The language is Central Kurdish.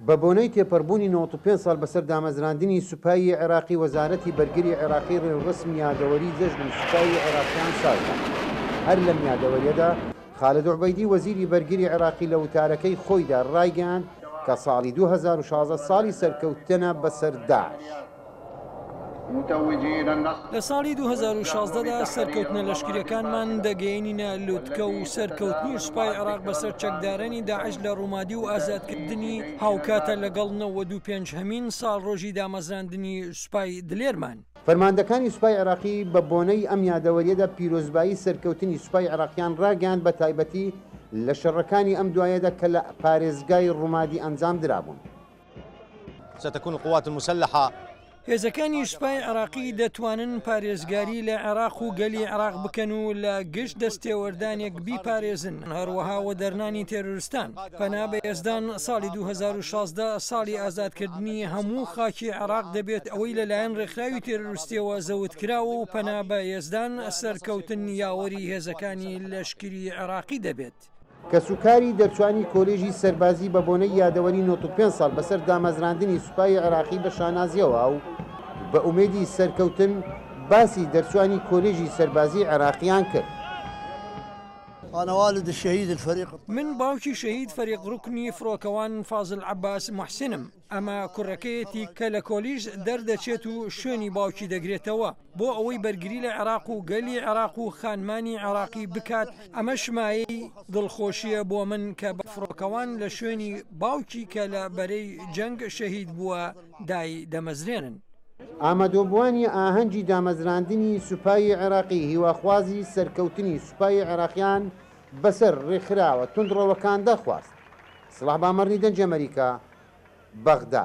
بە بۆنەی تێپەڕبوونی نەوەد و پێنج ساڵ بەسەر دامەزراندنی سوپای عێراقی وەزارەتی بەرگری عێراقی ڕێوڕەسمی یادەوەری جەژنی سوپای عێراقیان ساز کرد هەر لەم یادەوەریەدا خالد عوبەیدی وەزیری بەرگری عێراقی لە وتارەکەی خۆیدا ڕایگەیاند کە ساڵی دوو هەزار و شازدە ساڵی سەرکەوتنە بەسەر داعش. لە ساڵی دوو هەزار و شازدە دا سەرکەوتنە لەشکریەکانمان دەگەیەنینە لوتکە و سەرکەوتنی سوپای عێراق بەسەر چەکدارانی داعش لە ڕومادی و ئازادکردنی هاوکاتە لەگەڵ نەوەد و پێنج هەمین ساڵڕۆژی دامەزراندنی سوپای دلێرمان. فەرماندەکانی سوپای عێراقی بە بۆنەی ئەم یادەوەریەدا پیرۆزبایی سەرکەوتنی سوپای عێراقیان ڕاگەیاند بە تایبەتی لە شەڕەکانی ئەم دوایەدا کە لە پارێزگای ڕومادی ئەنجام درابوون. ستكون القوات المسلحة هێزەکانی سوپای عێراقی دەتوانن پارێزگاری لە عێراق و گەلی عێراق بکەن و لە گشت دەستێوەردانێک بیپارێزن هەروەها و دەرنانی تێرورستان پەنا بە ئێزدان ساڵی 2016 ساڵی ئازادکردنی هەموو خاکی عێراق دەبێت ئەوەی لەلایەن ڕێکخراوی تێرورستیەوە زەوت کراوە و پەنا بە ئێزدان سەرکەوتن یاوەری هێزەکانی لەشکری عێراقی دەبێت. دەکرێت. کەسوکاری دەرچوانی کۆلێژی سەربازی بە بۆنەی یادەوەری نۆد و پێنج ساڵ بەسەر دامەزراندنی سوپای عێراقی بە شانازیەوە و بە ئومێدی سەرکەوتن باسی دەرچوانی کۆلێژی سەربازی عێراقیان کرد. انا والد الشهيد الفريق. من باوکی شەهید فەریق ڕوکنی فڕۆکەوان فازل عەباس موحسینم. ئەمە کوڕەکەیەتی کە لە کۆلیژ دەردەچێت و شوێنی باوکی دەگرێتەوە بۆ ئەوەی بەرگری لە عێراق و گەلی عێراق و خانمانی عێراقی بکات، ئەمەش مایەی دڵخۆشییە بۆ من کە بە فڕۆکەوان لە شوێنی باوکی کە لە بەرەی جەنگ شەهید بووە دایدەمەزرێنن. ئامادەبووانی ئاهەنگی دامەزراندنی سوپای عێراقی هیواخوازی سەرکەوتنی سوپای عێراقیان بەسەر ڕێکخراوە توندڕەوەکاندا خواست سڵاح بامەڕنی دەنگی ئەمەریکا، بەغدا.